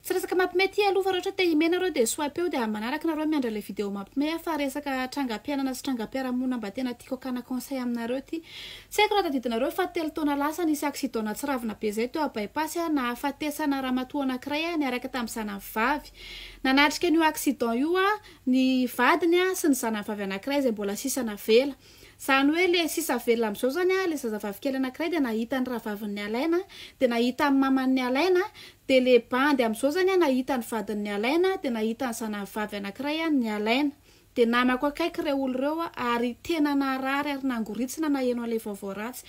Tsy resaka mapme ty aloha fa raha ohatra te hime nareo dia swipe eo dia any manaraka nareo miandra ilay video mapme a fa resaka trangam-piainana sy trangam-piarahamonina mba tena tiako hakana conseil aminareo ty tsy haiko raha tadidinareo fa telo taona lasa nisy accident nahatsiravina be zay teo a bypass a nahafatesana ramatoa anankiray a niaraka tamin'ny zanany vavy nanatrika an'io accident io a ny vadiny a sy ny zanany vavy anankiray izay mbola sisa navela Zany hoe le sisa velona amzao zany a le zazavavy kely anakiray de nahita ny rahavavin'ny alaina de nahita ny maman'ny alaina de le bandy amzao zany a nahita ny vadin'ny alaina de nahita ny zanavavy anakiray a ny alaina de namako akaiky reo olo reo a ary tena narary ary nangoritsina naheno anle vaovao ratsy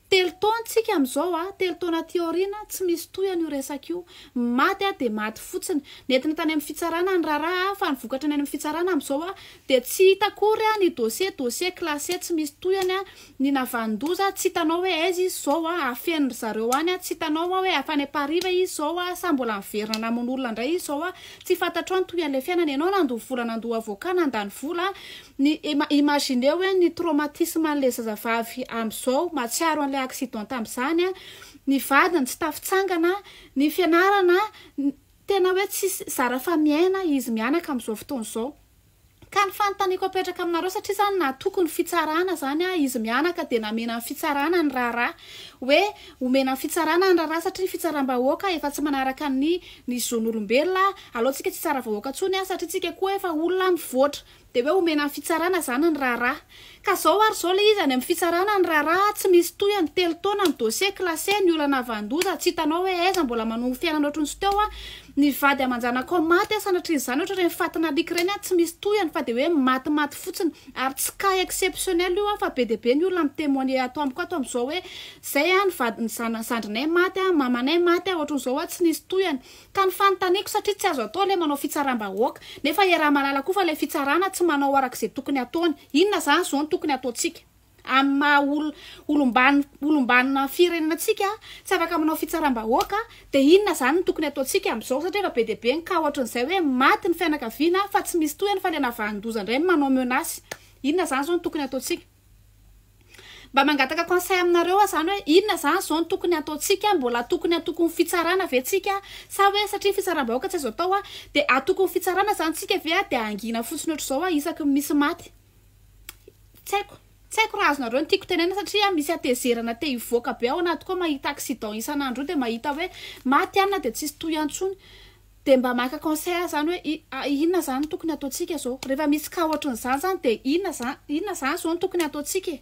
Telo taona tsika amizao a, telo taona aty aoriana tsy misy tohiny io resaka io. Ny maty a dia maty fotsiny. Nentina tany amin'ny fitsarana ny raharaha a, fa ny vokatra ny any amin'ny fitsarana amizao a dia tsy hita akory a, ny dossier dossier classé tsy misy tohiny a, ny navanon-doza tsy hitanao hoe aiza izy zao a, afenin ry zareo any a, tsy hitanao a hoe avy any Ampariva izy zao a, sa mbola miverina namono olona indray izy zao a, tsy fantatrao ny tohian'ilay fiainana, ianao nandoa vola nandoa avocat nandany vola a, Ny imagineo hoe ny traumatisme an'ilay zazavavy amin'izao, mahatsiaro an'ilay accident tamin'izany, ny vadiny tsy tafitsangana, ny fianarana, tena hoe tsisy zara fa miaina izy mianaka amin'izao fotoana izao. Ka ny fanontaniako apetraka aminareo satria izany natoky ny fitsarana izany izy mianaka dia namena ny fitsarana ny raharaha hoe omena ny fitsarana ny raharaha satria ny fitsaram-bahoaka efa tsy manaraka ny ny zon'olombelona, aleontsika tsy hitsara vahoaka intsony satria tsika koa efa olona mivoatra. Dia hoe omena ny fitsarana izany ny raharaha. Ka izao ary izao ilay izy any amin'ny fitsarana ny raharaha, tsy misy tohiny, telo taona ny dossier classé, ny olana havandoza, tsy hitanao hoe aiza, mbola manongo fiainana ohatry ny tsy teo an, ny vady aman-janakao maty an, sanatrian'izany ohatry ireny fatin'ny alika ireny an, tsy misy tohiny fa dia hoe matimaty fotsiny. Ary tsy cas exceptionnel io an, fa be dia be ny olona mi-temoigner ato amiko ato amin'izao hoe izay an, ny vady, ny zana, ny zandrinay maty an, mamanay maty an, ohatry ny izao an, tsy nisy tohiny. Ka ny fanontaniako satria tsy azo atao ilay manao fitsaram-bahoaka, nefa iaraha mahalala koa fa ilay fitsarana tsy manao araka izay tokony hataony. Inona izany izao no tokony hataontsika? Amin'ny maha olom-banona firenena antsika tsy afaka manao fitsaram-bahoaka, dia inona izany no tokony hataontsika amin'izao? Satria efa be dia be ny cas ohatran'izay hoe maty ny fianakaviana fa tsy misy tohiny fa ilay navahan-doza indray no manao menace. Inona izany izao no tokony hataontsika? Mba mangataka conseil aminareo aho zany hoe inona zany zao no tokony hataontsika, mbola tokony hatoko ny fitsarana ve tsika sa hoe satria fitsaram-bahoaka tsy azo atao a dia hatoko ny fitsarana zany tsika ve a dia hangina fotsiny ohatr'izao a isaky ny misy maty? Tsy haiko, tsy haiko raha azonareo ny tiako tenena satria misy hatezerana te hivoaka be ao anatiko ao mahita accident isan'andro io dia mahita hoe maty anona dia tsisy tohiny antsony. Dia mba maka conseil zany hoe inona zany no tokony ataontsika zao? Rehefa misy cas ohatrin'izany zany dia inona zany, inona zany zao no tokony ataontsika e?